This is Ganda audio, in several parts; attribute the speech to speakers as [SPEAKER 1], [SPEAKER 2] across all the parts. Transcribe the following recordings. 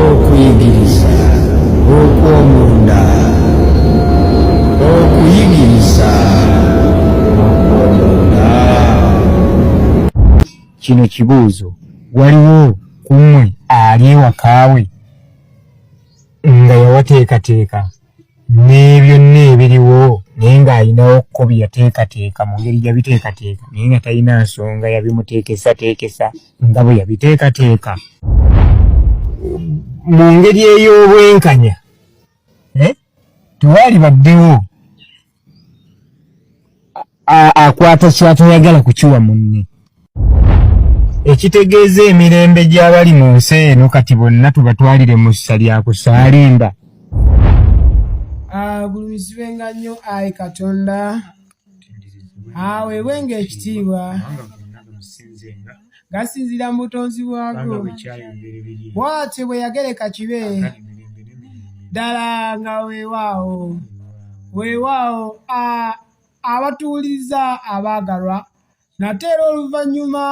[SPEAKER 1] okuyigiriza okw'omunda okuyigiriza okw'omunda kino kibuuzo waliwo ku mmwe ali ewakaawe nga yawateekateeka nebyonna ebiriwo naye ng'alinawo ko byeyateekateeka mu ngeri yabiteekateeka naye nga talina nsonga yabimuteekesateekesa nga bwe yabiteekateeka mu ngeri ey'obwenkanya eh? tewaali baddewo akwata kyatayagala kukiwa munne ekitegeeza emirembe gy'abali mu nsi eno kati bonna tubatwalire mu ssa lya kusaalimba
[SPEAKER 2] agulumizibwenga nnyo ayi katonda aweebwenga ekitiibwa gasinziira mu butonzi bwago bwatyo bwe yagereka kibe ddala nga weewaawo weewaawo abatuwuliriza abaagalwa nate era oluvannyuma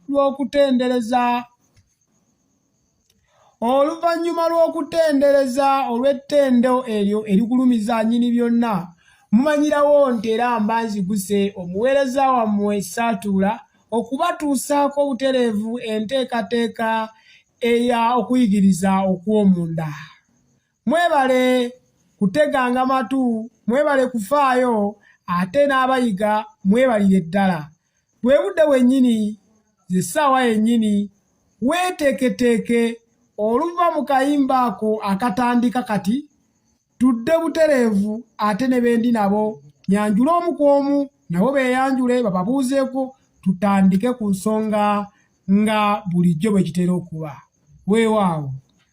[SPEAKER 2] lw'okutendereza oluvannyuma lw'okutendereza olw'ettendo eryo erigulumiza nyini byonna mumanyirawo nti era mba nziguse omuweereza wammwe saatuula okubatuusaako obutereevu enteekateeka eya okuyigiriza okw'omunda mwebale kuteganga matu mwebale kufaayo ate n'abayiga mwebalire ddala bwe budde wennyini ze ssaawa yennyini weeteeketeeke oluva mu kayimba ako akatandika kati tudde butereevu ate ne bendi nabo nyanjule omu ku omu nabo beeyanjule bababuuzeeko tutandike ku nsonga nga bulijjo bwe kitera okuba weewaawo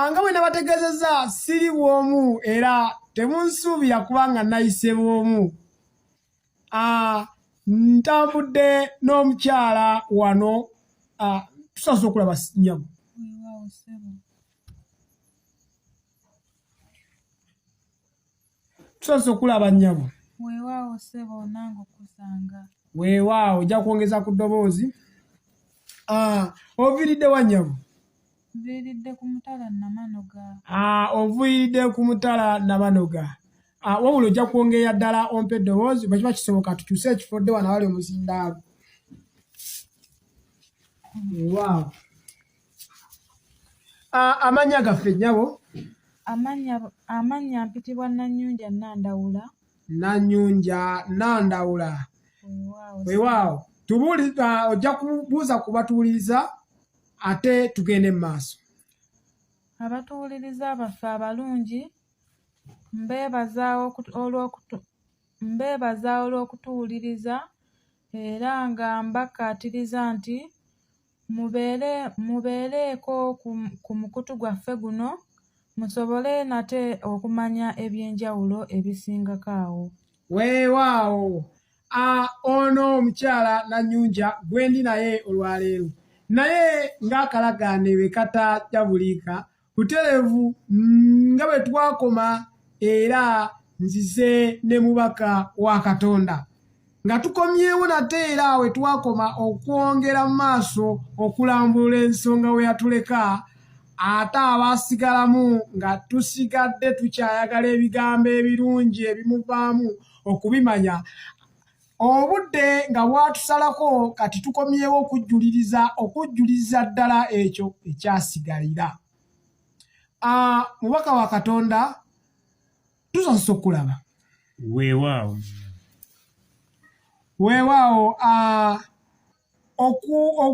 [SPEAKER 2] Anga bwe nabategezeza siri bwomu era temunsuubira kubanga nayise bwomu ah, ntambudde n'omukyala wano ah, tusaza okulaba nyamu tusoose okulaba nnyabo weewaawo sebo
[SPEAKER 3] nange okusanga weewaawo ojja
[SPEAKER 2] kwongeza ku ddoboozi ah, oviiridde wa nnyabo nviiridde
[SPEAKER 3] ku mutala namanoga ah, oviiridde
[SPEAKER 2] ku mutala namanoga ah, wabula ojja kwongeera ddala ompa eddoboozi bwe kiba kisoboka tukyuse ekifo dde wana wali omuzindaalo weewaawo amannya gaffe nnyabo
[SPEAKER 3] amannya mpitibwa nanyunja nandawula nanyunja
[SPEAKER 2] nandawula wewaawo tubuli ojja kubuuza ku batuwuliriza ate tugende mu maaso abatuwuliriza
[SPEAKER 3] baffe abalungi mbeebaza olw'okutuwuliriza era nga mbakkaatiriza nti Mubeere, mubeereeko ku, ku mukutu gwaffe guno, musobole nate okumanya eby'enjawulo ebisingako awo. Weewaawo.
[SPEAKER 2] A, ono omukyala Nanyunja gwendi naye olwaleero, naye ng'akalagaane bwe katajabuliika buterevu mm, nga bwe twakoma era nzize ne mubaka wa katonda nga tukomyewo nate era awe twakoma okwongera mu maaso okulambulula ensonga we yatuleka ate abaasigalamu nga tusigadde tukyayagala ebigambo ebirungi ebimuvaamu okubimanya obudde nga bwatusalako kati tukomyewo okujjuliriza okujjuliriza ddala ekyo ekyasigalira ah, mubaka wa katonda tusasisa okulaba weewaawo weewaawo ah,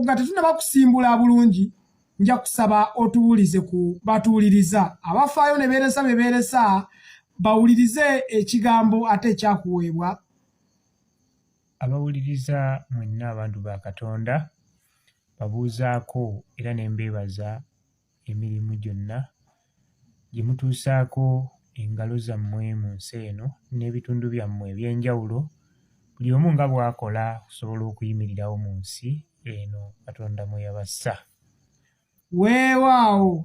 [SPEAKER 2] nga tetunaba kusimbula bulungi nja kusaba otuwulize ku batuwuliriza abafaayo ne beeresa be beeresa bawulirize ekigambo ate ekyakuweebwa
[SPEAKER 1] abawuliriza mwenna abantu ba katonda babuuzaako era ne mbeebaza emirimu gyonna gye mutuusaako engalo zammwe mu nsi eno n'ebitundu byammwe eby'enjawulo buli omu nga bw'akola okusobola okuyimirirawo mu nsi eno Katonda mwe yabassa. Weewaawo,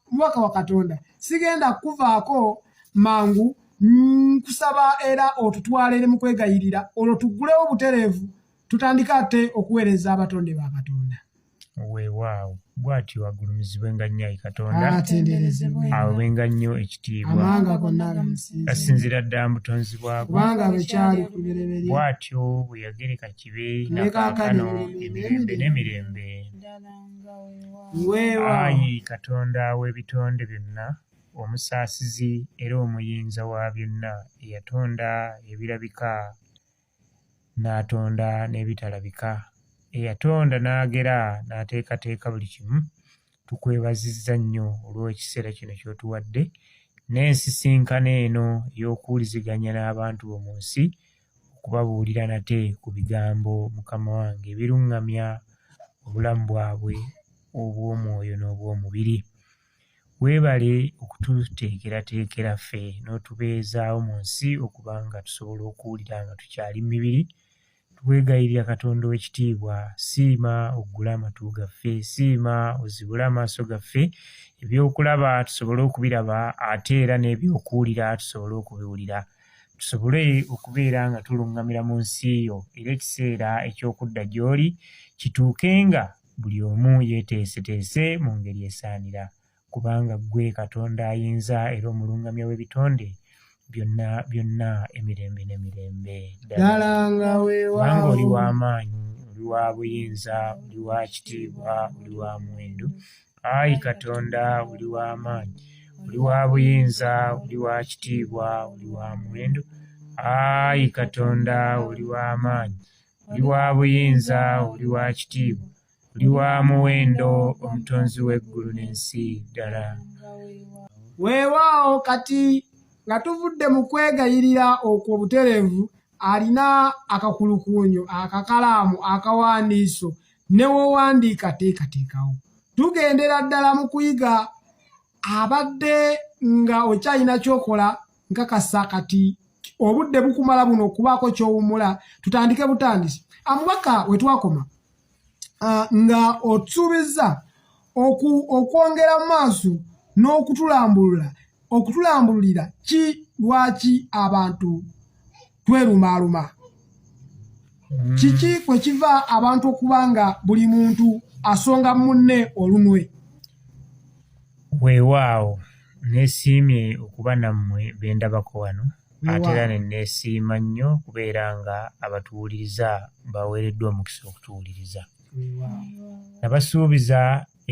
[SPEAKER 2] omubaka wa Katonda, sigenda kukuvaako mangu nkusaba era otutwala eri mu kwegayirira olwo tuggulewo butereevu tutandike ate okuweereza abatonde ba Katonda. weewaawo
[SPEAKER 1] bw'atyo agulumizibwenga nnyo ayi katonda awewenga nnyo ekitiibwa asinziira ddala mu butonzi bwabwo bw'atyo bwe yagereka kibe nakaakano emirembe n'emirembe ayi katonda w'ebitonde byonna omusaasizi era omuyinza wa byonna eyatonda ebirabika n'atonda n'ebitalabika, eyatonda n'agera n'ateekateeka buli kimu, tukwebazizza nnyo olw'ekiseera kino ky'otuwadde n'ensisinkano eno ey'okuwuliziganya n'abantu bo mu nsi okubabuulira nate ku bigambo mukama wange ebiruŋŋamya obulamu bwabwe obw'omwoyo n'obw'omubiri. Weebale okututeekerateekera ffe n'otubeezaawo mu nsi okuba nga tusobola okuwulira nga tukyali mu mibiri. Twegayirira Katonda ow'ekitiibwa, siima oggule amatu gaffe, siima ozibule amaaso gaffe, ebyokulaba tusobole okubiraba ate era n'ebyokuwulira tusobole okubiwulira. Tusobole okubeera nga tuluŋŋamira mu nsi yo era ekiseera eky'okudda gy'oli kituukenga buli omu yeeteeseteese mu ngeri esaanira, kubanga ggwe Katonda ayinza era omulungamya w'ebitonde byonna byonna emirembe n'emirembe. Ddala nga
[SPEAKER 2] weewaawo. Kubanga oli wa
[SPEAKER 1] maanyi, oli wa buyinza, oli wa kitiibwa, oli wa muwendo. Ayi Katonda, oli wa maanyi, oli wa buyinza, oli wa kitiibwa, oli wa muwendo. Ayi Katonda, oli wa maanyi. oli wa buyinza oli wa kitiibwa oli wa muwendo omutonzi w'eggulu n'ensi ddala weewaawo
[SPEAKER 2] kati nga tuvudde mu kwegayirira okwo butereevu alina akakulukuunyo akakalaamu akawandiiso ne wowandiika teekateekawo tugendera ddala mu kuyiga abadde nga okyalina kyokola nkakasa kati obudde bukumala buno okubaako kyowumula tutandike butandisi amubaka wetwakoma uh, nga otusuubizza okwongera mu maaso n'okutulambulula okutulambululira ki lwaki abantu twerumaaluma hmm. kiki kwe kiva abantu okuba nga buli muntu asonga munne olunwe
[SPEAKER 1] weewaawo nesiimye okuba nammwe bendabako wano ate era ne neesiima nnyo kubeera nga abatuwuliriza baweereddwa omukisa okutuwuliriza nabasuubiza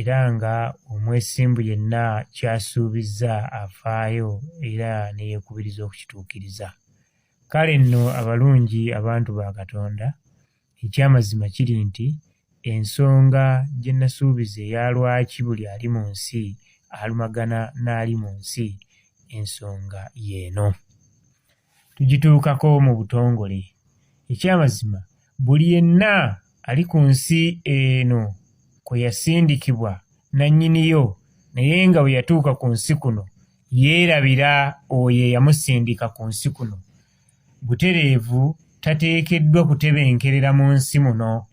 [SPEAKER 1] era nga omwesimbu yenna kyasuubizza afaayo era neyekubiriza okukituukiriza Kale nno abalungi abantu ba Katonda, eky'amazima kiri nti ensonga gye nasuubiza eya lwaki buli ali mu nsi alumagana n'ali mu nsi, ensonga y'eno. Tugituukako mu butongole. Eky'amazima buli yenna ali ku nsi eno kwe yasindikibwa nannyiniyo naye nga bwe yatuuka ku nsi kuno yeerabira oyo eyamusindika ku nsi kuno. Butereevu tateekeddwa kutebenkerera mu nsi muno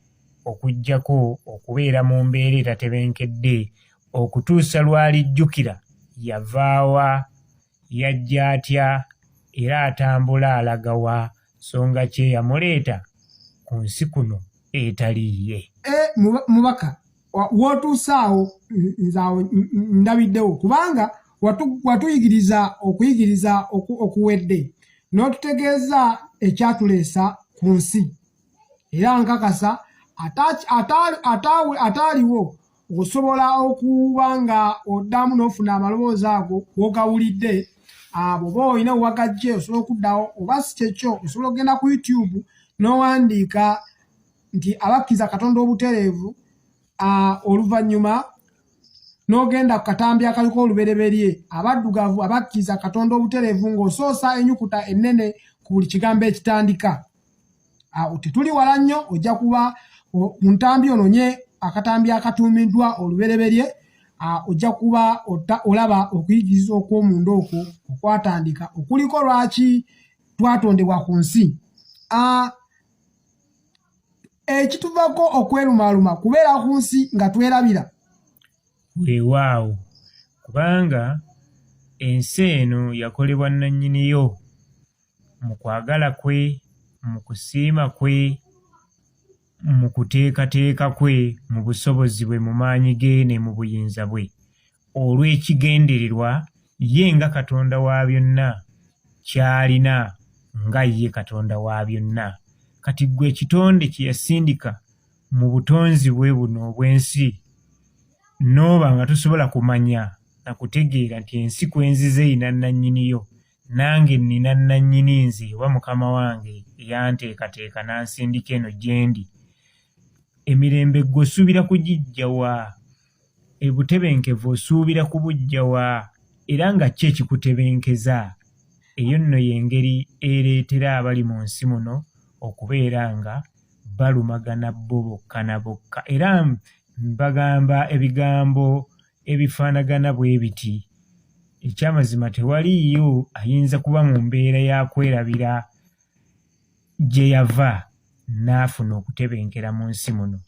[SPEAKER 1] okuggyako okubeera mu mbeera etatebenkedde okutuusa lw'alijjukira yava wa, yajja atya era atambula alaga wa nsonga ki eyamuleeta ku nsi kuno etali ye. E, mubaka
[SPEAKER 2] wootuuse awo nze awo ndabiddewo kubanga watuyigiriza okuyigiriza okuwedde n'otutegeeza ekyatuleesa ku nsi era nkakasa ataaliwo osobola okuba nga oddamu n'ofuna amaloboozi ago wogawulidde abo oba olina wewagajje osobola okuddawo oba si kyekyo osobola okugenda ku youtube n'owandiika nti abakkiriza katonda obutereevu oluvannyuma n'ogenda ku katambi akaliko olubereberye abaddugavu abakkiriza katonda obutereevu ng'osoosa enyukuta ennene ku buli kigambo ekitandika awo tetuli wala nnyo ojja kuba mu ntambi ononye akatambi akatuumiddwa olubereberye ojja kuba olaba okuyigiriza okw'omunda okwo okwatandika okuliko lwaki twatondebwa ku nsi ekituvako okwerumaaluma kubeera ku nsi nga twerabira
[SPEAKER 4] weewaawo kubanga ensi eno yakolebwa nnannyiniyo mu kwagala kwe mu kusiima kwe mu kuteekateeka kwe mu busobozi bwe mu maanyi ge ne mu buyinza bwe olw'ekigendererwa ye nga Katonda wa byonna ky'alina nga ye Katonda wa byonna. Kati ggwe ekitonde kye yasindika mu butonzi bwe buno obw'ensi n'oba nga tosobola kumanya na kutegeera nti ensi kwe nzize erina nnannyini yo nange nnina nnannyini nze oba mukama wange eyanteekateeka n'ansindika eno gye ndi emirembe gwe osuubira kugijja wa ebutebenkevu osuubira kubuggya wa era nga ki ekikutebenkeza? Eyo nno y'engeri ereetera abali mu nsi muno okubeera nga balumagana bo bokka na bokka era bagamba ebigambo ebifaanagana bwe biti ekyamazima tewaliiyo ayinza kuba mu mbeera ya kwerabira gye yava n'afuna okutebenkera mu nsi muno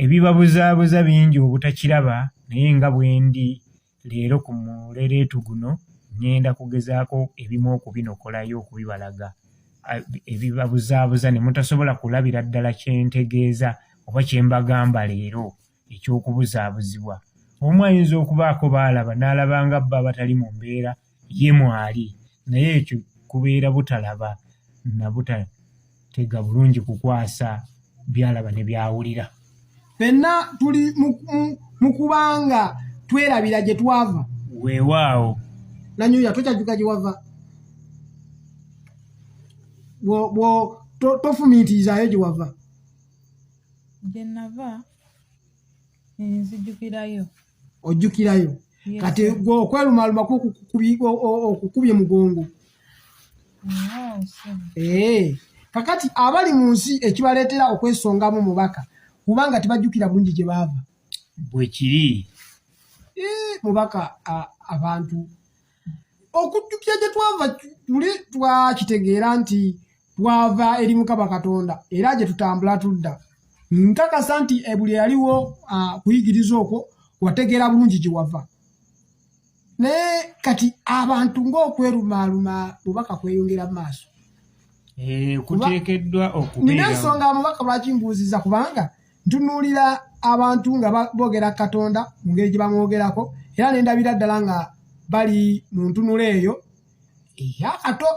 [SPEAKER 4] ebibabuzaabuza bingi obutakiraba naye nga bwendi leero ku mulereetu guno ŋŋenda kugezaako ebimu okubinokolayo okubibalaga ebibabuzaabuza ne mutasobola kulabira ddala kye ntegeeza oba kye mbagamba leero eky'okubuzaabuzibwa omu ayinza okubaako baalaba n'alaba nga bba abatali mu mbeera ye mwali naye ekyo kubeera butalaba na butatega bulungi kukwasa byalaba ne byawulira fenna
[SPEAKER 2] tuli mu kubanga twerabira gye twava weewaawo
[SPEAKER 4] nanyuya
[SPEAKER 2] tokyajuka gye wava tofumiitirizayo gye wava
[SPEAKER 3] gye nava nzijukirayo ojjukirayo
[SPEAKER 2] kati gwe okwelumaluma okukubye mugongo eh, kakati abali mu nsi ekibaleetera okwesongamu mubaka kubanga tebajjukira bulungi gye baava bwekiri
[SPEAKER 4] eh,
[SPEAKER 2] mubaka abantu okujjukira gye twava tuli twakitegeera nti twava eri mukama katonda era gye tutambula tudda nkakasa nti ebuli eyaliwo kuyigiriza okwo wategeera bulungi gye wava naye kati abantu ng'okwerumaaluma bubaka kweyongera mu maaso eh, kuteekeddwa
[SPEAKER 4] okubeera nina ensonga abubaka
[SPEAKER 2] lwaki mbuuziza kubanga ntunuulira abantu nga boogera katonda mu ngeri gye bamwogerako era ne ndabira ddala nga bali mu ntunula eyo eyakato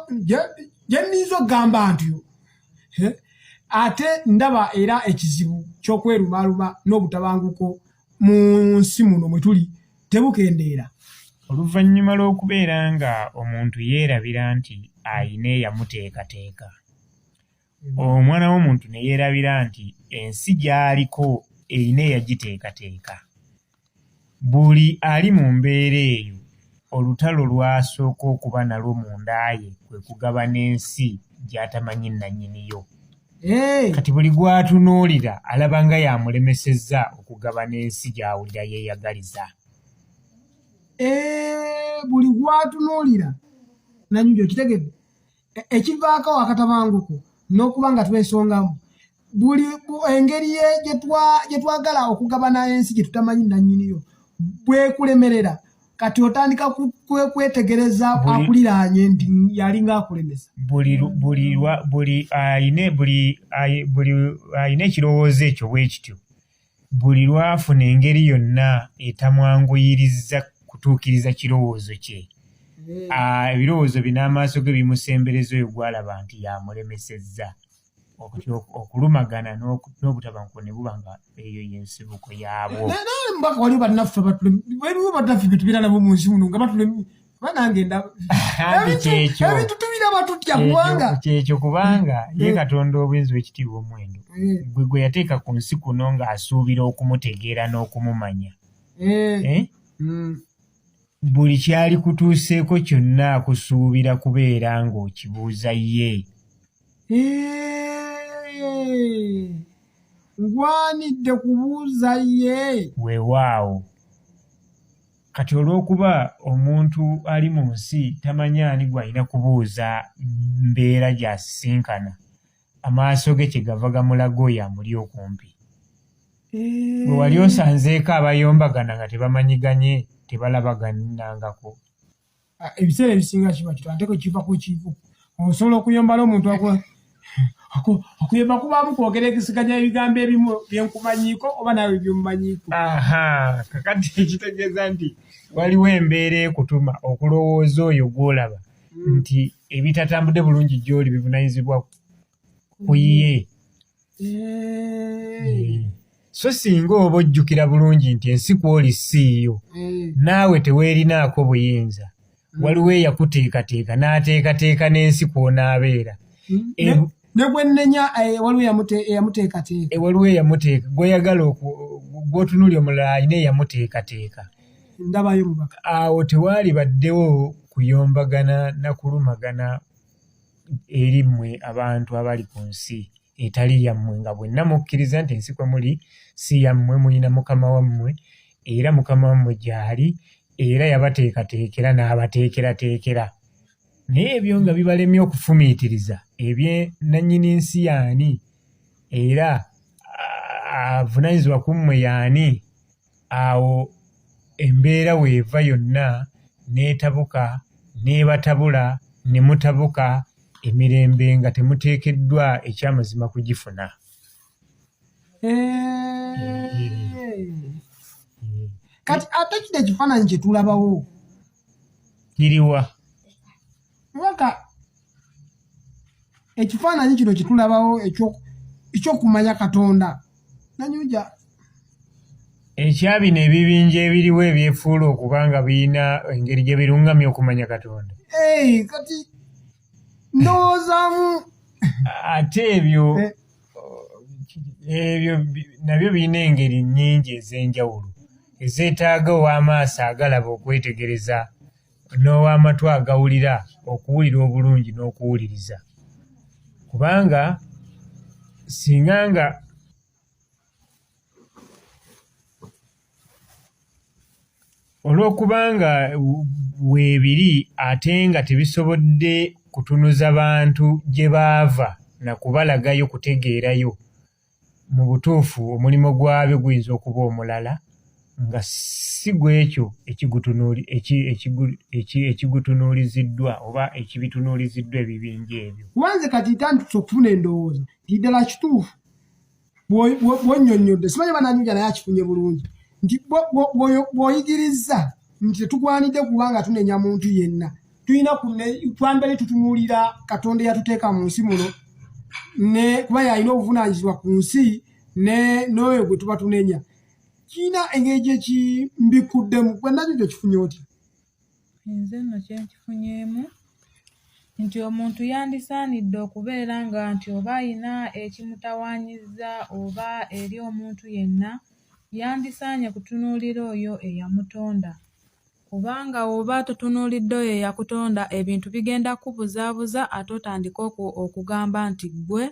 [SPEAKER 2] gye nniiza okugamba ntyo ate ndaba era ekizibu ky'okwerumaaluma n'obutabanguko mu nsi muno mwe tuli tebukendeera oluvannyuma
[SPEAKER 4] lw'okubeera nga omuntu yeerabira nti ayina eyamuteekateeka omwana w'omuntu ne yeerabira nti ensi gy'aliko erina eyagiteekateeka. Buli ali mu mbeera eyo olutalo lw'asooka okuba nalwo munda ye kwe kugabana ensi gy'atamanyi nnannyini yo. Kati buli gw'atunuulira alaba nga y'amulemesezza okugabana ensi gy'awulira yeeyagaliza.
[SPEAKER 2] Buli gw'atunuulira nnannyini yo, okitegedde? E- ekivaako akatabanguko n'okuba nga twesongamu buli engeri gye twagala okugabana ensi gye tutamanyi nannyiniyo bwekulemerera kati otandika kwetegereza akuliraanye nti yalinga akulemesa buli
[SPEAKER 4] alina ekirowoozo ekyo bwe kityo Buli lw'afuna engeri yonna etamwanguyirizza kutuukiriza kirowoozo kye, hmm. ebirowoozo bye n'amaaso ge bimusembereza oyo gw'alaba nti y'amulemesezza. okulumagana n'obutabanguko ne buba nga eyo yensibuko yaabwo. Naye mbaka waliwo
[SPEAKER 2] bannaffe waliwo bannaffe bye tubeera nabo mu nsi muno nga batulemi banange ebintu tubiraba tutya kubanga kyekyo kubanga mm.
[SPEAKER 4] ye katonda obuyinza wekitiibwa omwendo mm. gwe gwe yateeka ku nsi kuno ng'asuubira okumutegeera n'okumumanya eh. Eh? Mm. buli kyali kutuuseeko kyonna akusuubira kubeera ng'okibuuza ye eh.
[SPEAKER 2] ngwanidde kubuuza ye wewaawo
[SPEAKER 4] Kati olw'okuba omuntu ali mu nsi tamanyi ani gw'alina kubuuza mbeera gy'asisinkana, amaaso ge kye gava gamulaga oyo amuli okumpi. Bwe eh. wali osanzeeko abayombagana nga tebamanyiganye, tebalabaganangako. ah,
[SPEAKER 2] ebiseera ebisinga kiba kito ate kwekiva kwekivu osobola okuyombala omuntu okuyomba kubaamu kwogera ekisiganya ebigambo ebimu byenkumanyiiko oba naawe byomumanyiiko kakati
[SPEAKER 4] ekitegeeza nti waliwo embeera ekutuma okulowooza oyo gwolaba hmm. nti ebitatambudde bulungi gyoli bivunanyizibwa kuyiye so singa oba ojjukira bulungi nti ensi kwoli siiyo eh. naawe teweerinaako buyinza hmm. waliwo eyakuteekateeka n'ateekateeka n'ensi kw'onaabeera hmm. eh,
[SPEAKER 2] ne gwe nnenya eh, waliwo eyamuteekateeka waliwo eyamuteeka
[SPEAKER 4] gweyagala gwotunuli omulala alina eyamuteekateeka ndabayo
[SPEAKER 2] mubaka awo tewaali
[SPEAKER 4] baddewo kuyombagana na kulumagana eri mmwe abantu abali ku nsi etali yammwe nga bwenna mukkiriza nti ensi kwe muli si yammwe mulina mukama wammwe era mukama wammwe gy'ali era yabateekateekera n'abateekerateekera naye ebyo nga bibalemye okufumiitiriza ebye nannyini nsi yaani era avunanyizibwa ku mmwe yaani awo embeera weeva yonna n'etabuka n'ebatabula ne mutabuka emirembe nga temuteekeddwa ekyamazima kugifuna.
[SPEAKER 2] Kati ate kino ekifaananyi kye tulabawo
[SPEAKER 4] kiriwa?
[SPEAKER 2] mubaka ekifaananyi kino kitulabawo ekyokumanya katonda nanyuja ekya
[SPEAKER 4] bino ebibinja ebiriwo ebyefuula okuba nga birina engeri gye birungamya okumanya katonda kati
[SPEAKER 2] ndowoozamu ate
[SPEAKER 4] ebyo eh. ebyo nabyo birina engeri nnyingi ez'enjawulo ezeetaaga ow'amaaso agalaba okwetegereza n'ow'amatu agawulira okuwulira obulungi n'okuwuliriza kubanga singa nga olw'okuba nga weebiri ate nga tebisobodde kutunuza bantu gye baava na kubalaga yo kutegeerayo Mu butuufu, omulimo gwabyo guyinza okuba omulala nga si gw'ekyo ekigutunuuliziddwa oba ekibitunuuliziddwa ebibinja ebyo. Kuba nze kati ntandise
[SPEAKER 2] okufuna endowooza nti ddala kituufu bw'onnyonnyodde, simanyi oba n'anyuja naye akifunye bulungi, nti bw'oyigirizza nti tetugwanidde kuba nga tunenya muntu yenna, tulina twandibadde tutunuulira katonda eyatuteeka mu nsi muno ne kuba yalina obuvunaanyizibwa ku nsi n'oyo gwe tuba tunenya kiina engeri gyekimbikuddemu gwenabyo gyekifunye otya nze
[SPEAKER 3] nno kyenkifunyemu nti omuntu yandisaanidde okubeera nga nti oba alina ekimutawaanyizza oba eri omuntu yenna yandisaanye kutunuulira oyo eyamutonda Kubanga woba totunuulidde oyo eyakutonda ebintu bigenda kukubuzaabuza ate otandike okugamba nti ggwe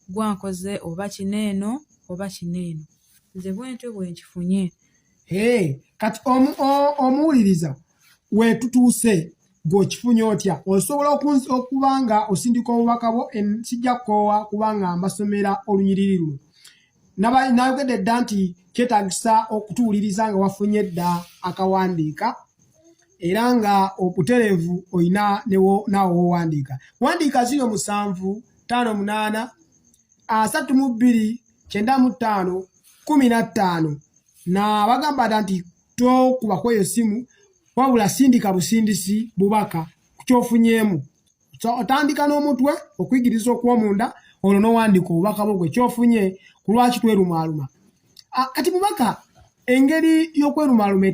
[SPEAKER 3] ggwe ankoze oba kino eno oba kino eno nze bwentyo bwenkifunye hey,
[SPEAKER 2] kati omuwuliriza wetutuuse gweokifunye otya osobola okuba nga osindika obubaka bwo sijja kukoowa kubanga mbasomera olunyiriri luno nayogedde dda nti kyetagisa okutuwuliriza nga wafunye dda akawandiika era nga obutereevu olina naawe wowandiika wandiika zino musanvu tano munaana asatu mu bbiri kyenda mu ttaano kumi na ttaano nabagamba dda nti tokuba kweyo simu wabula sindika busindisi bubaka kukyofunyeemu so otandika n'omutwe okuyigiriza okwomunda olwo nowandiika obubaka bwo gwe kyofunye ku lwaki twerumaaluma ah, kati mubaka engeri y'okwerumaaluma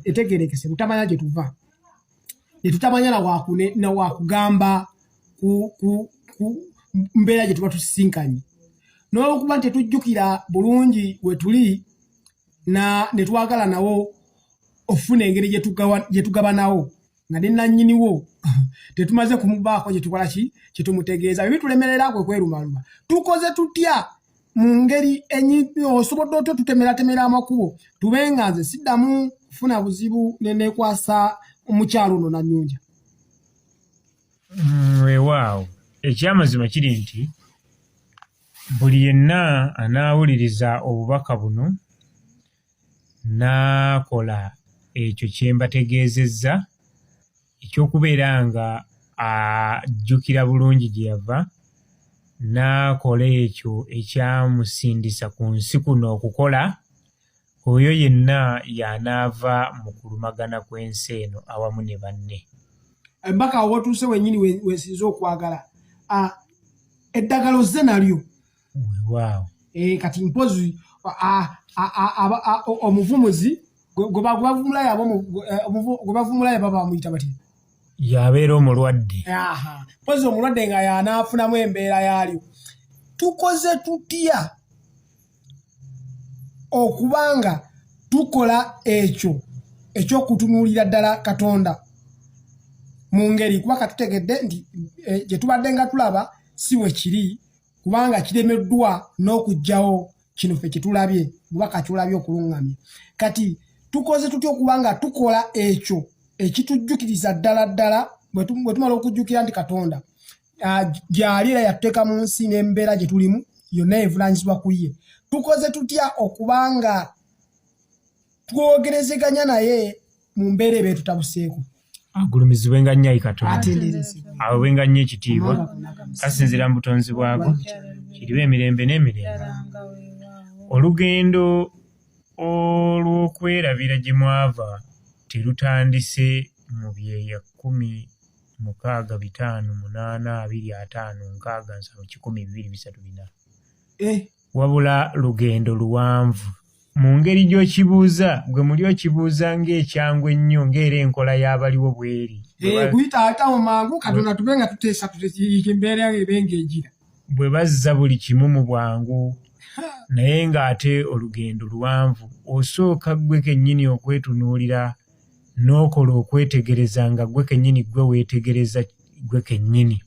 [SPEAKER 2] etegerekese mutamanya gye tuva ne tutamanya na wakugamba ku mbeera gye tuba tusisinkanye n'olwokuba nti tetujjukira bulungi we tuli ne twagala nawo okufuna engeri gye tugabanawo nga ne nannyiniwo tetumaze kumubaako kyetukola ki kyetumutegeeza bye bitulemerera kwe kwerumaluma tukoze tutya mu ngeri osobola otya tutemeratemera amakubo tube nga nze siddamu kufuna buzibu nenekwasa omukyalo ono nanyunja mm,
[SPEAKER 4] wewaawo ekyamazima kiri nti buli yenna anaawuliriza obubaka buno n'akola ekyo kye mbategeezezza eky'okubeera nga ajjukira bulungi gye yava n'akola ekyo ekyamusindisa ku nsi kuno okukola oyo yenna y'anaava mu kulumagana kw'ensi eno awamu ne banne embaka awo
[SPEAKER 2] watuuse wenyini wesinze okwagala ah, eddagala ozze nalyo weewaawo
[SPEAKER 4] eh, kati
[SPEAKER 2] mpozi omuvumuzi gwebavumulayo eh, baba bamuyita batya yabeera
[SPEAKER 4] omulwadde mpozi
[SPEAKER 2] omulwadde nga yanaafunamu embeera yaalyo tukoze tutya okuba nga tukola ekyo ekyokutunuulira ddala katonda mu ngeri kuba katutegedde nti eh, gye tubadde nga tulaba si wekiri kubanga kiremeddwa n'okugyawo kino fe kyetulabye mubaka kyolabye okulungamya kati tukoze tutya okuba nga tukola ekyo ekitujjukiriza ddala ddala bwe tumala okujjukira nti katonda gyali era yatuteeka mu nsi n'embeera gye tulimu yonna evunanyizibwa ku ye tukoze tutya okuba nga twogerezeganya naye mu mbeera eba etutabuseeko agulumizibwe
[SPEAKER 4] nga nnyo ayi katonda awebwe nga nnyo ekitiibwa kasinzira mu butonzi bwako kiriba emirembe n'emirembe olugendo olw'okwerabira gye mwava terutandise mu byeya kkumi mukaaga bitaano munaana abiri ataano nkaaga nsanvu kikumi bibiri bisatu bina eh. Wabula lugendo luwanvu. Mu ngeri gy'okibuuza, gwe muli okibuuza ng'ekyangu ennyo ng'era enkola y'abaliwo bw'eri. Eh, kuyita ayitawo
[SPEAKER 2] mangu katonda tube nga tuteesa embeera ebe ng'egira. Bwe bazza
[SPEAKER 4] buli kimu mu bwangu naye ng'ate olugendo luwanvu osooka ggwe kennyini okwetunuulira n'okola okwetegereza nga ggwe kennyini ggwe weetegereza ggwe kennyini.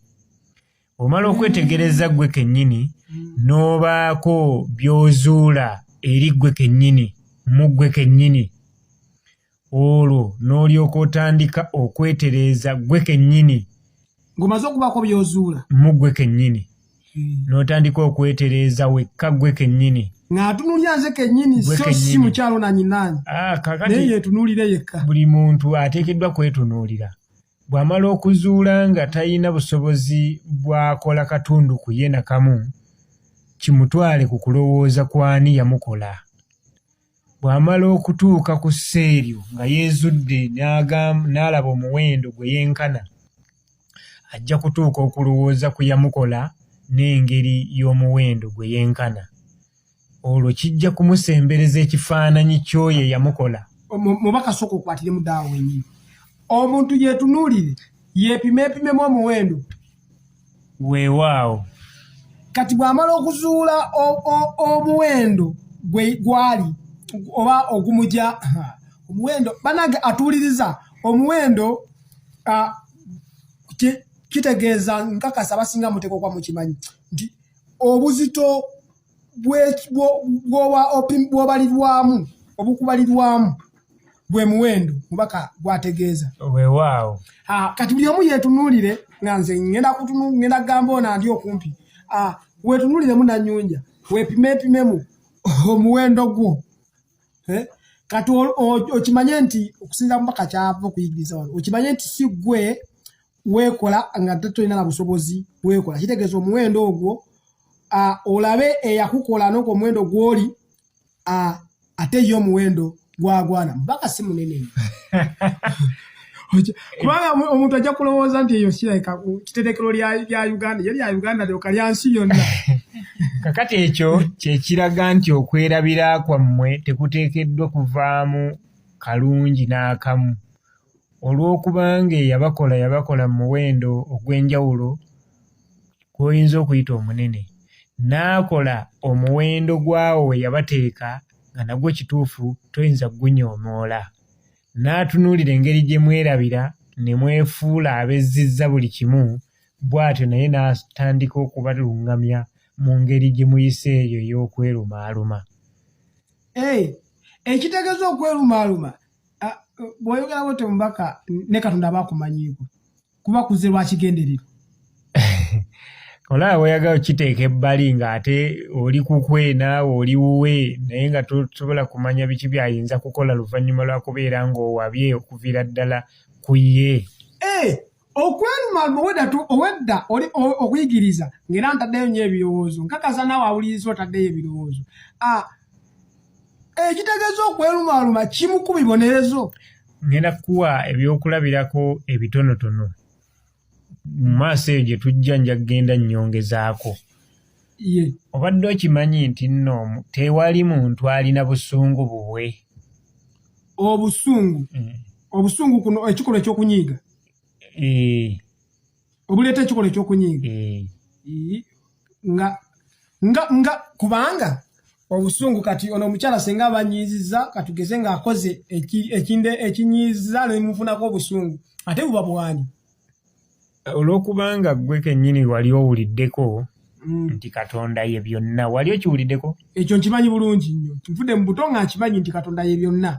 [SPEAKER 4] Omala okwetegereza ggwe kennyini n'obaako by'ozuula eri ggwe kennyini mu ggwe kennyini olwo n'olyoka otandika okwetereeza ggwe kennyini ng'omaze
[SPEAKER 2] okubaako by'ozuula mu ggwe kennyini
[SPEAKER 4] hmm. n'otandika okwetereeza wekka ggwe kennyini ng'atunulira nze
[SPEAKER 2] kennyini so si mukyalo nanyinaanyi ah, naye yeetunuulire yekka buli muntu
[SPEAKER 4] ateekeddwa kwetunuulira Bw'amala okuzuula nga talina busobozi bw'akola katundu ku ye nakamu, kimutwale ku kulowooza ku ani yamukola. Bw'amala okutuuka ku ssa eryo nga yeezudde n'alaba omuwendo gwe yenkana, ajja kutuuka okulowooza ku yamukola n'engeri y'omuwendo gwe yenkana. olwo kijja kumusembereza ekifaananyi kyoyo eyamukola mubaka soka
[SPEAKER 2] okwatire mudaawo wenyini omuntu yetunuulire yepima epimemu omuwendo
[SPEAKER 4] weewaawo
[SPEAKER 2] kati bwamala okuzuula omuwendo gwe gwali oba ogumugya omuwendo banange atuuliriza omuwendo kitegeeza nkakasa basinga muteekwa okuba mukimanyi nti obuzito bwobalirwamu obukubalirwamu gwe muwendo mubaka gwategeeza wewaawo
[SPEAKER 4] kati buli omu
[SPEAKER 2] yetunuulire nga nze ngenda kutunu ngenda kugamba ona ndi okumpi wetunuuliremu nanyunja wepimepimemu omuwendo gwo eh? kati okimanye nti okusinza mubaka kyava okuyigiriza wano okimanye nti si gwe weekola nga ate tolina na busobozi weekola kitegeeza omuwendo ogwo olabe eyakukola noku omuwendo gwoli ate ye omuwendo gwagwana mubaka si munene kubanga omuntu ajja kulowooza nti eyo siraika kitetekero lya uganda ye lya uganda lyoka lya nsi yonna kakati
[SPEAKER 4] ekyo kyekiraga nti okwerabira kwammwe tekuteekeddwa kuvaamu kalungi n'akamu olw'okuba ng'eyabakola yabakola mu muwendo ogw'enjawulo gw'oyinza okuyita omunene n'akola omuwendo gwawo we yabateeka nga nagwo kituufu toyinza kugunyoomoola n'atunuulira engeri gye mwerabira ne mwefuula abezzizza buli kimu bw'atyo naye n'atandika okubaluŋŋamya mu ngeri gye muyise eyo ey'okwerumaaluma
[SPEAKER 2] ekitegeeza okwerumaaluma ah, bwoyogera bwoti omubaka ne katonda aba akumanyiiko kuba kuze lwakigenderero
[SPEAKER 4] olaba bweyaga okiteeka ebbali ng'ate oli kukwe naawe oli wuwe naye nga tosobola kumanya biki byayinza kukola luvannyuma lwa kubeera ng'owabye okuviira ddala ku ye eh,
[SPEAKER 2] okweluma owedda owedda oli okuyigiriza ngera ntaddeyo nyo ebirowoozo nkakasa naawe awuliriza otaddeyo ebirowoozo ah, ekitegeeza okwelumaluma kimu ku bibonerezo ngenda kukuwa
[SPEAKER 4] ebyokulabirako ebitonotono mu maaso eyo gye tujja nja kugenda nnyongezaako obadde okimanyi nti nno tewali muntu alina busungu bubwe obusungu
[SPEAKER 2] mm. obusungu kuno ekikolwa ekyokunyiiga eh. obuleeta ekikolwa ekyokunyiiga eh. nga nga nga kubanga obusungu kati ono omukyala senga abanyiiziza katugeze ng'akoze ekinde ekinyiiza nemufunako obusungu ate buba bwani olwokubanga
[SPEAKER 4] gwe kenyini wali owuliddeko mm. nti katonda ye byonna wali okiwuliddeko ekyo nkimanyi bulungi
[SPEAKER 2] nnyo nvude mu buto nga nkimanyi nti katonda ye byonna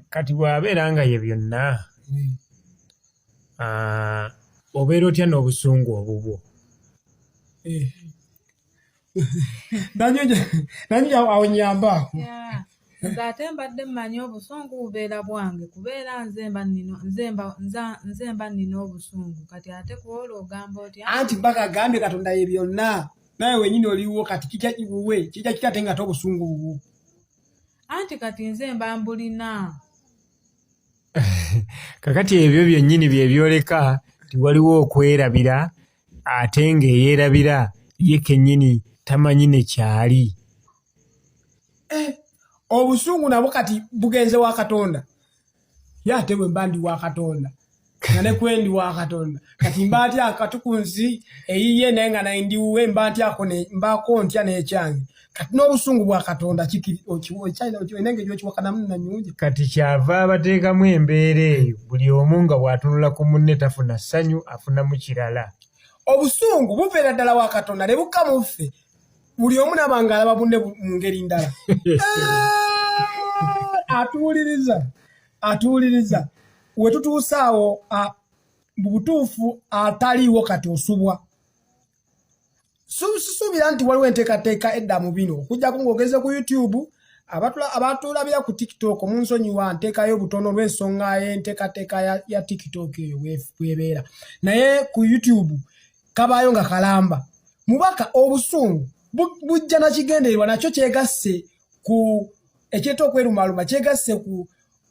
[SPEAKER 2] kati bwabeera nga ye
[SPEAKER 4] byonna mm. ah, obeera otya n'obusungu obubwo eh.
[SPEAKER 2] nanyo awo nyambaako nze ate
[SPEAKER 3] mbadde mmanyi obusungu bubeera bwange kubeera nze mba nnina obusungu kati ate kuwola ogamba otya anti mpaka agambye
[SPEAKER 2] katonda ye byonna naye wenyini oliwo kati kija kiwuwe kija kitate nga tobusungu bubu anti
[SPEAKER 3] kati nze mba mbulina
[SPEAKER 4] kakati ebyo byennyini byebyoleka tiwaliwo okwerabira ate ng'eyeerabira ye kennyini tamanyi ne kyali eh,
[SPEAKER 2] obusungu nabwo kati bugenze wa katonda ye ate bwe mba ndi wa katonda nga ne kwendi wa katonda kati mba ntya katuku nsi eyiye naye nga naye ndiwuwe mba ntyako mbaako ntya n'ekyange kati n'obusungu bwa katonda kikiriolina engeri okiwakanamu nanyungi kati kyava
[SPEAKER 4] abateekamu embeera eyo buli omu nga bw'atunula ku munne tafuna ssanyu afunamu kirala obusungu
[SPEAKER 2] buveera ddala wa katonda ne bukka mu ffe buli omu naba nga alaba bunne mu ngeri ndala ah, atuwuliriza atuwuliriza we tutuusaawo mu butuufu ataliiwo kati osubwa sisuubira nti waliwo enteekateeka edda mu bino okujjako ng'ogenze ku youtube abatulabira ku tiktok munsonyiwa nteekayo obutono olw'ensonga y'enteekateeka ya tiktok eyo bwebeera naye ku youtube kabaayo nga kalamba mubaka obusungu bujja nakigendererwa nakyo kyegasse ku ekyeta okwerumaaluma kyegasse ku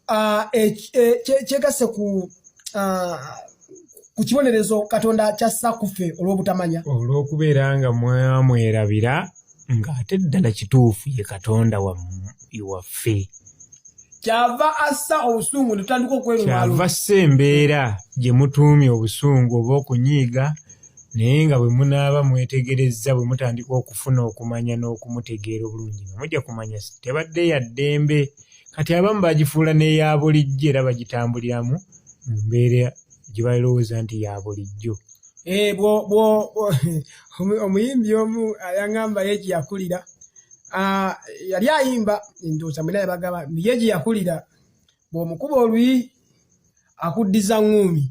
[SPEAKER 2] Ah, e, e, kyegasse ku ah, ku kibonerezo katonda kyassa kuffe olw'obutamanya olw'okubeera nga
[SPEAKER 4] mwamwerabira ng'ate ddala kituufu ye katonda waffe
[SPEAKER 2] kyava assa obusungu netutandika okwekyava ssa embeera
[SPEAKER 4] gye mutuumye obusungu oba okunyiiga naye nga bwe munaaba mwetegerezza bwe mutandika okufuna okumanya n'okumutegeera obulungi nga mujja kumanya tebadde yaddembe ya kati abamu bagifuula n'eya bulijjo era bagitambuliramu mu mbeera gye balowooza nti ya bulijjo eh,
[SPEAKER 2] omuyimbi omu ayangamba ye gye yakulira ah, yali ayimba ndoza mwena yabagaba ye gye yakulira bw'omukuba oluyi akuddiza ŋŋuumi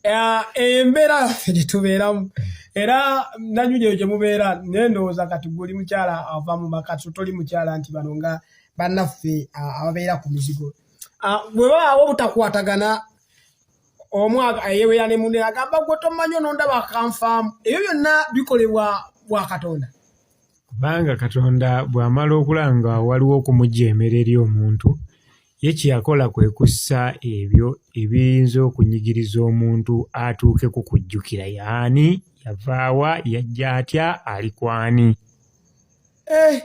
[SPEAKER 2] eh, embeera yaffe gye tubeeramu era nanyu gyeyo gye mubeera naye ndowooza kati guli mukyala ava mu maka so toli mukyala nti bano nga bannaffe ah, ababeera ku mizigo ah, bwe babaawo obutakwatagana omu ayeweera ne munne agamba gwe tomanyi onondaba akanfaamu ebyo byonna bikolebwa bwa katonda kubanga
[SPEAKER 4] katonda bw'amala okulaba nga waliwo okumujjeemera eri omuntu Ye kye yakola kwe kussa ebyo ebiyinza okunyigiriza omuntu atuuke ku kujjukira yaani, yavaawa, yajja atya, ali kwani. Eh,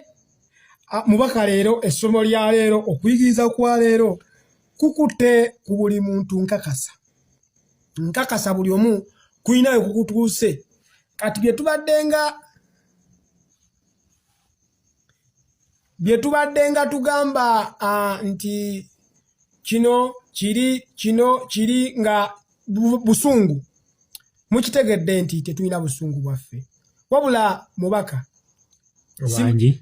[SPEAKER 2] mubaka leero essomo lya leero okuyigiriza kwa leero kukutte ku buli muntu nkakasa nkakasa buli omu kulinayo kukutuuse kati bye tubaddenga bye tubadde nga tugamba uh, nti kino kiri kino kiri nga busungu mukitegedde nti tetulina busungu bwaffe wabula mubaka obangi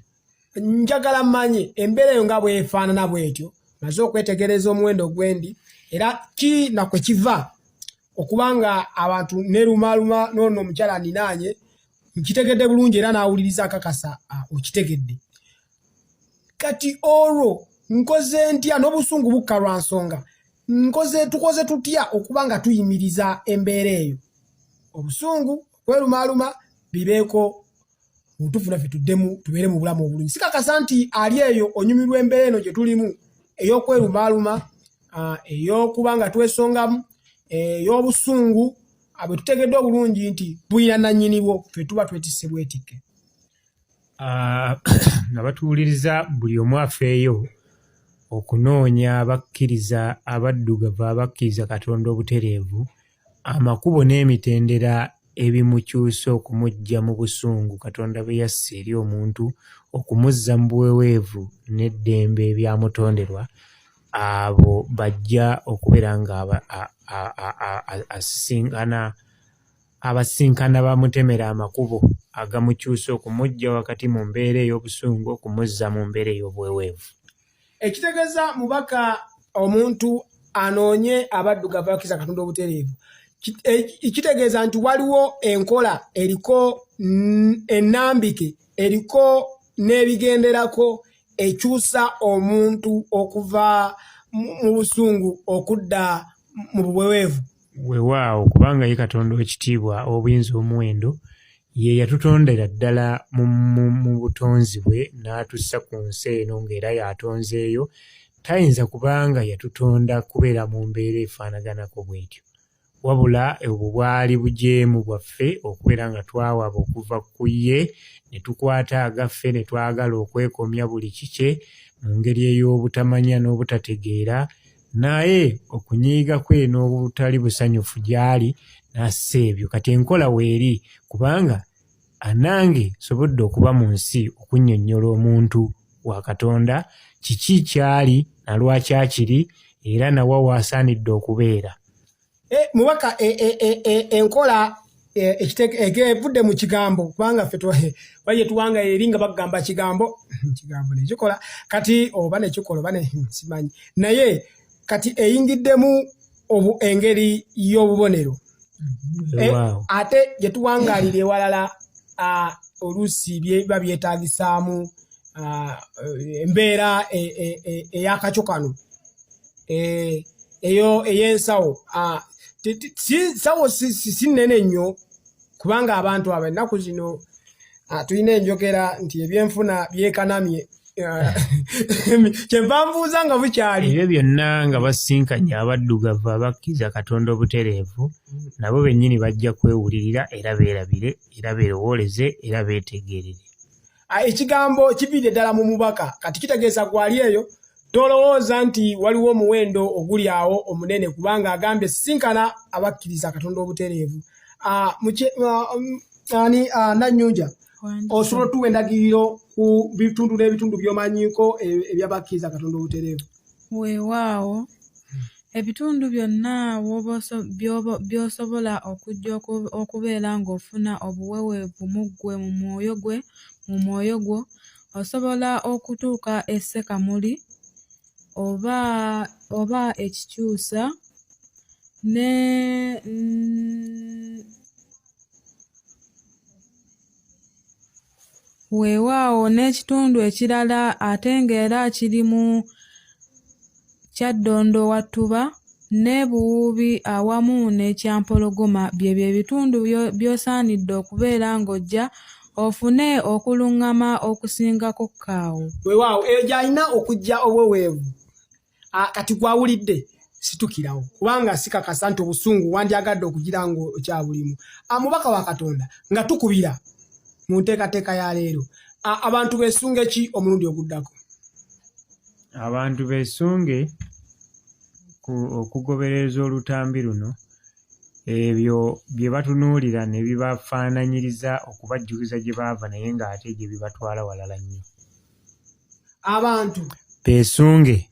[SPEAKER 2] njagala mmanyi embeera eyo nga bwefaanana bwetyo maze okwetegereza omuwendo ogwendi era ki nakwe kiva okubanga abantu nerumaluma noono omukyala ninaanye nkitegedde bulungi era n'awuliriza akakasa ah, okitegedde kati olwo nkoze ntya n'obusungu bukka lwa nsonga nkoze tukoze tutya okuba nga tuyimiriza embeera eyo obusungu okwerumaaluma bibeeko mubutuufu naffe tuddemu tubeere mu bulamu obulungi sikakasa nti ali eyo onyumirwa embeera eno gye tulimu ey'okwerumaaluma ah, ey'okuba nga twesongamu eh, ey'obusungu abo tutegeddwa bulungi nti bulina nannyinibwo fe tuba twetisse bwetikke ah,
[SPEAKER 4] nga batuwuliriza buli omu afeeyo okunoonya abakkiriza abaddugavu abakkiriza katonda obutereevu amakubo n'emitendera ebimukyusa okumuggya mu busungu katonda bwe yassa eri omuntu okumuzza mu buweweevu n'eddembe ebyamutonderwa abo bajja okubeera nga asisinkana abasisinkana bamutemera amakubo agamukyusa okumujja wakati mu mbeera ey'obusungu okumuzza mu mbeera ey'obweweevu ekitegeeza
[SPEAKER 2] mubaka omuntu anoonye abaddugavu bakkiriza katonda obutereevu e, kitegeeza nti waliwo enkola eriko ennambike eriko n'ebigenderako ekyusa omuntu okuva mu busungu okudda mu buweweevu wewaawo
[SPEAKER 4] kubanga ye katonda wekitiibwa obuyinza omuwendo ye yatutondera ddala mu butonzi bwe n'atussa ku nsi eno ng'era yatonzeeyo tayinza kubanga yatutonda kubeera mu mbeera efaanaganako bwetyo wabula obwo bwali bujeemu bwaffe okubeera nga twawaba okuva ku ye ne tukwata agaffe ne twagala okwekomya buli kikye mu ngeri ey'obutamanya n'obutategeera naye okunyiiga kwe n'obutali busanyufu gy'ali n'assa ebyo kati enkola weeri kubanga Anange sobodde okuba mu nsi okunnyonnyola omuntu wa Katonda kiki ky'ali na lwaki akiri era na wa w'asaanidde okubeera. Eh, mubaka
[SPEAKER 2] eh, eh, enkola egevudde mu kigambo kubanga ffe baye tuwanga eri nga bagamba kigambo kigambo nekikola kati oba nekikola oba simanyi naye kati eyingiddemu obu engeri y'obubonero mm-hmm. eh, ate gye tuwangalira ewalala oluusi biba byetagisaamu embeera e, e, e, eyakakyo kano eyo ey'ensawo sawo si nnene nnyo kubanga abantu abo ennaku zino ah, tulina enjogera nti ebyenfuna byekanamye ah, kyenva nbuuza nga bukyali ebyo byonna nga
[SPEAKER 4] basinkanye abaddugavu abakkiriza katonda obutereevu nabo bennyini bajja kwewulirira era beerabire era beerowooleze era beetegeerere ah, ekigambo
[SPEAKER 2] kiviidde ddala mu mubaka kati kitegeeza gwali eyo tolowooza nti waliwo omuwendo oguli awo omunene kubanga agambye sisinkana abakkiriza katonda obutereevu ah, ah, um, ani nanyunja osobola otuwa endagiriro ku bitundu n'ebitundu by'omanyiiko e, ebyabakkiriza katonda obutereevu Weewaawo,
[SPEAKER 3] ebitundu byonna by'osobola okujja okubeera ng'ofuna obuweweevu mu ggwe, mu mwoyo gwe, mu mwoyo gwo, osobola okutuuka e Ssekamuli oba oba ekikyusa ne Weewaawo n'ekitundu ekirala ate ng'era kirimu Kyaddondo Wattuba ne Buwuubi awamu n'ekyampologoma byebyo ebitundu by'osaanidde okubeera ng'ojja ofune okulungama okusingako kaawo. Weewaawo eyo gy'alina
[SPEAKER 2] okujja obuweweevu. ah, kati gwawulidde situkirawo kubanga sikakasa nti obusungu wandyagadde okugira nga okyabulimu ah, mubaka wa katonda nga tukubira mu nteekateeka ya leero ah, abantu besunge ki omulundi oguddako
[SPEAKER 4] abantu besunge okugobereza olutambi luno ebyo bye batunuulira ne bibafaananyiriza okubajjukiza gye baava naye ng'ate gye bibatwala walala nnyo
[SPEAKER 2] abantu
[SPEAKER 4] beesunge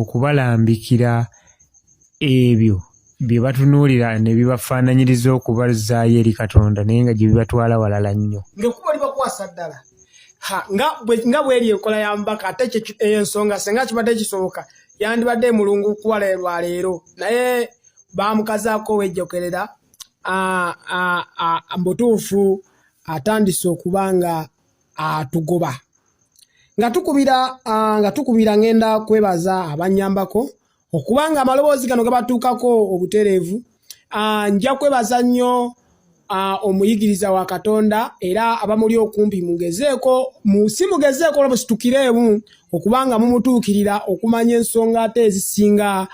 [SPEAKER 4] okubalambikira ebyo bye batunuulira ne bibafaananyiriza okubazaayo eri katonda naye nga gye bibatwala walala nnyo ngaekuba libakwasa
[SPEAKER 2] ddala nga bweri enkola ya mbaka ate eyo ensonga senga kibadde kisoboka yandibadde emulungu kuwala lwa leero naye bamukazaako wejjokerera mbutuufu atandise okuba nga atugoba nga tukubira nga tukubira ngenda kwebaza abanyambako okuba nga amaloboozi gano gabatuukako obutereevu nja kwebaza nnyo omuyigiriza wa katonda era abamuli okumpi mugezeeko si mugezeeko olwo musitukireemu okuba nga mumutuukirira okumanya ensonga ate ezisinga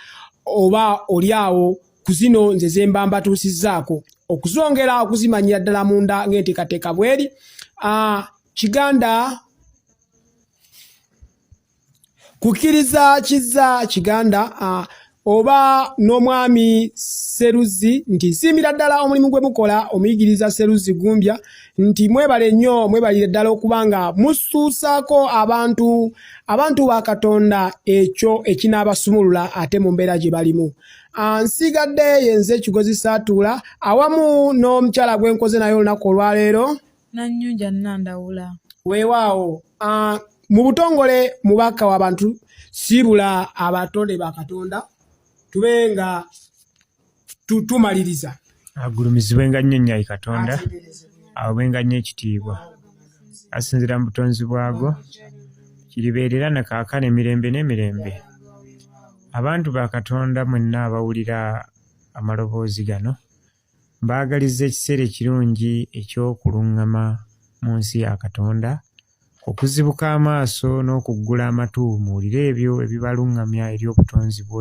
[SPEAKER 2] oba oli awo ku zino nze zemba mbatuusizzaako okuzongera okuzimanyira ddala munda ng'enteekateeka bweri ah, kiganda kukkiriza kizza kiganda ah, oba n'omwami seruzzi nti nsiimira ddala omulimu gwe mukola omuyigiriza seruzzi gumbya nti mwebale nnyo mwebalire ddala okuba nga musuusaako abantu abantu ba katonda ekyo ekinaabasumulula ate mu mbeera gye balimu Ah, nsigadde yenze ekigozi saatuula awamu n'omukyala gwe nkoze naye olunaku olwaleero nannyunja
[SPEAKER 3] nnandawula weewaawo
[SPEAKER 2] ah, mu butongole mubaka w'abantu siibula abatonde ba katonda tube nga tumaliriza agulumizibwe nga nnyo
[SPEAKER 4] nnyo ayi katonda awebwe nga nnyo ekitiibwa asinzira mu butonzi bwago kiribeerera na kaakano emirembe n'emirembe abantu ba katonda mwenna abawulira amaloboozi gano mbaagaliza ekiseera ekirungi eky'okuluŋŋama mu nsi ya katonda okuzibuka amaaso n'okuggula amatu muwulire ebyo ebibaluŋŋamya eri obutonzi bwo